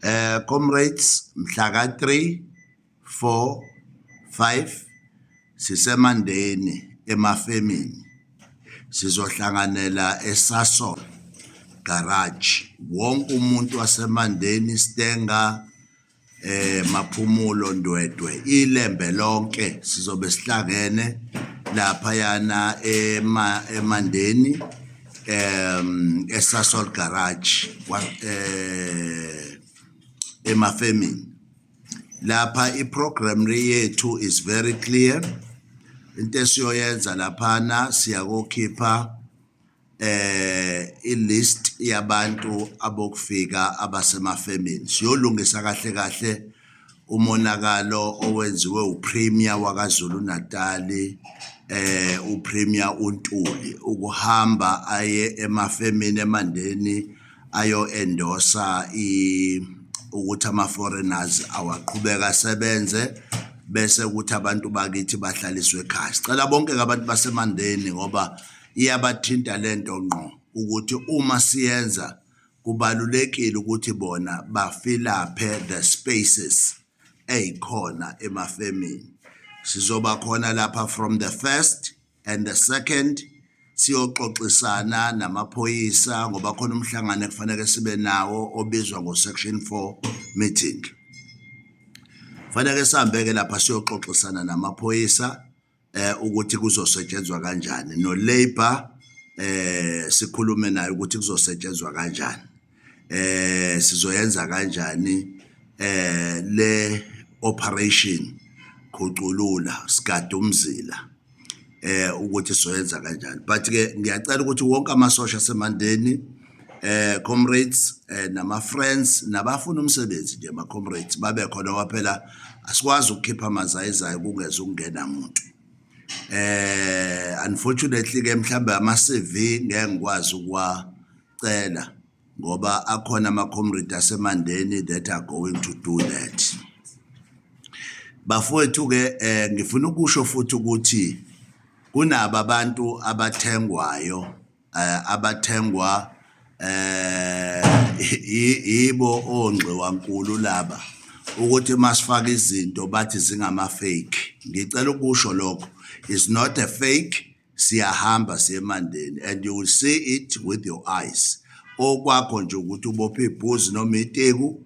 Eh comrades mhla ka 3 4 5 sisemandeni emafemini sizohlanganela eSasol garage wonke umuntu wasemandeni Stenga eh maphumulo ndwedwe ilembe lonke sizobe sihlangene lapha yana emandeni um esasol garage wa- eh emafemini lapha iprogram le yethu is very clear into esiyoyenza laphana siyakokhipha eh ilist yabantu abokufika abasemafemini siyolungisa kahle kahle umonakalo owenziwe uPremier waKwaZulu-Natal eh uPremier uNtuli ukuhamba aye emafemini eMandeni ayo endorsa i ukuthi ama foreigners awaqhubeka asebenze bese ukuthi abantu bakithi bahlaliswe ekhaya sicela bonke abantu baseMandeni ngoba iyabathinta lento ngqo ukuthi uma siyenza kubalulekile ukuthi bona bafilaphe the spaces eyikhona emafemini sizoba khona lapha from the first and the second siyoxoxisana namaphoyisa ngoba khona umhlangano ekufanele sibe nawo obizwa ngo-section four meeting faneke sihambe-ke lapha siyoxoxisana namaphoyisa ukuthi kuzosetshenzwa kanjani no-labour eh sikhulume naye ukuthi kuzosetshenzwa kanjani eh sizoyenza kanjani eh le operation khuculula sigadumzila eh ukuthi soyenza kanjani but ke ngiyacela ukuthi wonke amasosha asemandeni eh comrades eh, nama friends nabafuna umsebenzi nje ma comrades babe khona waphela asikwazi ukukhipha amazayizayo kungeza ukungena umuntu eh unfortunately ke mhlambe ama CV ngeke ngikwazi ukuwacela ngoba akhona ama comrades asemandeni that are going to do that bafowethu ke eh, ngifuna ukusho futhi ukuthi kunabo abantu abathengwayo eh, abathengwa eh yibo ongxiwankulu laba ukuthi masifaka izinto bathi zingama fake ngicela ukusho lokho is not a fake siyahamba siyemandeni and you will see it with your eyes okwakho nje ukuthi ubophe ibhuzi noma iteku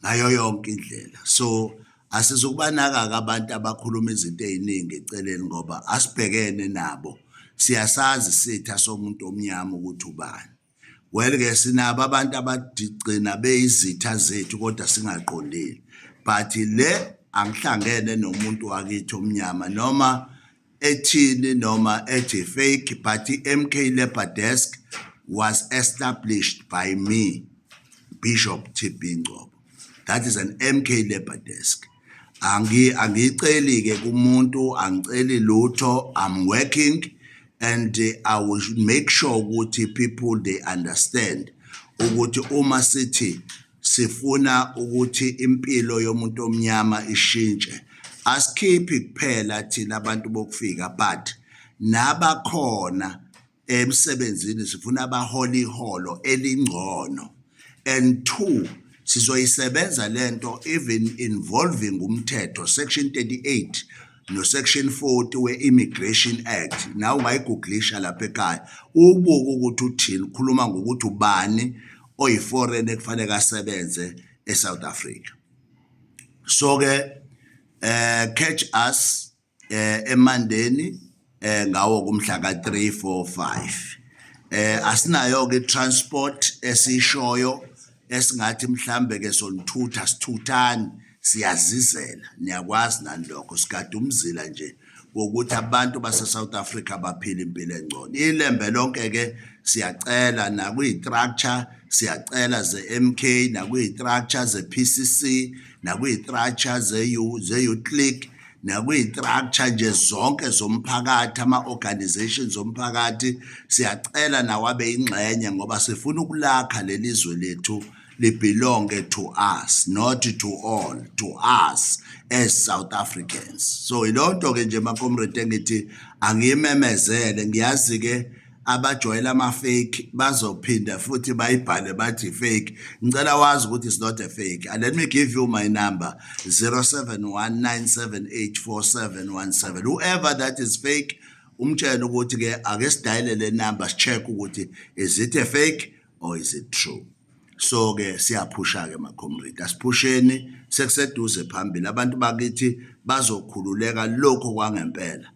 ngayo yonke indlela so asizukubanaka-ke abantu abakhuluma izinto ey'ningi eceleni ngoba asibhekene nabo siyasazi sitha somuntu omnyama ukuthi ubani well-ke sinabo abantu abadigcina beyizitha zethu kodwa singaqondile but le angihlangene nomuntu wakithi omnyama noma ethini noma ethi fake but i-MK Labour Desk was established by me Bishop TB Ngcobo that is an MK Labour Desk angi angiceli ke kumuntu angiceli lutho i'm working and i will make sure ukuthi people they understand ukuthi uma sithi Sifuna ukuthi impilo yomuntu omnyama ishintshe. Asikhiphi kuphela thina abantu bokufika but nabakhona emsebenzini sifuna abahole iholo elingcono. And two, sizoyisebenza le nto even involving umthetho section 38 nosection 40 we-Immigration Act nawe ungayiguglisha lapha ekhaya ubuke ukuthi uthini ukhuluma ngokuthi ubani oyiforeign ekufanele asebenze eSouth Africa so ke eh catch us eh eMandeni eh ngawo kumhla ka 3 4 5 eh asinayo ke transport esishoyo esingathi mhlambe ke sonithutha sithuthani Siyazizela, niyakwazi nani lokho, sigada umzila nje wokuthi abantu baseSouth Africa baphile impilo engcono. Ilembe lonke ke siyacela nakwiyi-structure siyacela ze-MK nakwiyi-structure ze-PCC nakwiyi-structure ze-Uclick nakwiyi-structure nje zonke zomphakathi ama-organization zomphakathi siyacela nawabe ingxenye ngoba sifuna ukulakha leli zwe lethu libelonge to us not to all to us as South Africans so ilonto ke nje makomrade engithi angiyimemezele ngiyazi ke abajwayela ama fake bazophinda futhi bayibhale bathi fake ngicela wazi ukuthi it's not a fake and let me give you my number 0719784717 whoever that is fake umtshela ukuthi ke ake sidayile le number sicheck ukuthi is it a fake or is it true so ke siyaphusha ke macomrade asiphusheni sekuseduze phambili abantu bakithi bazokhululeka lokho kwangempela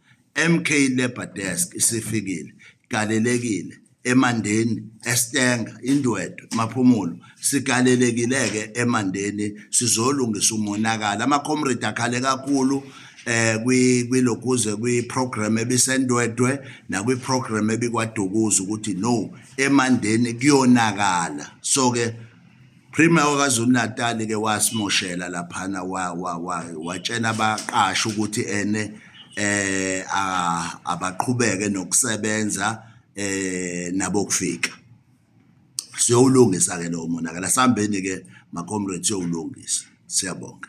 MK Labor Desk isifikile galelekile emandeni estenga indwedwe maphumulo sigalelekile ke emandeni sizolungisa umonakala ama comrade akhale kakhulu eh kwi kwilokuze kwi program ebisendwedwe nakwi program ebikwadukuza ukuthi no emandeni kuyonakala so ke Premier waKwaZulu Natal ke wasimoshela laphana watshela abaqashi ukuthi ene eh abaqhubeke nokusebenza eh nabokufika siyowulungisa ke lowo monakala sambeni ke ma comrades siyowulungisa siyabonga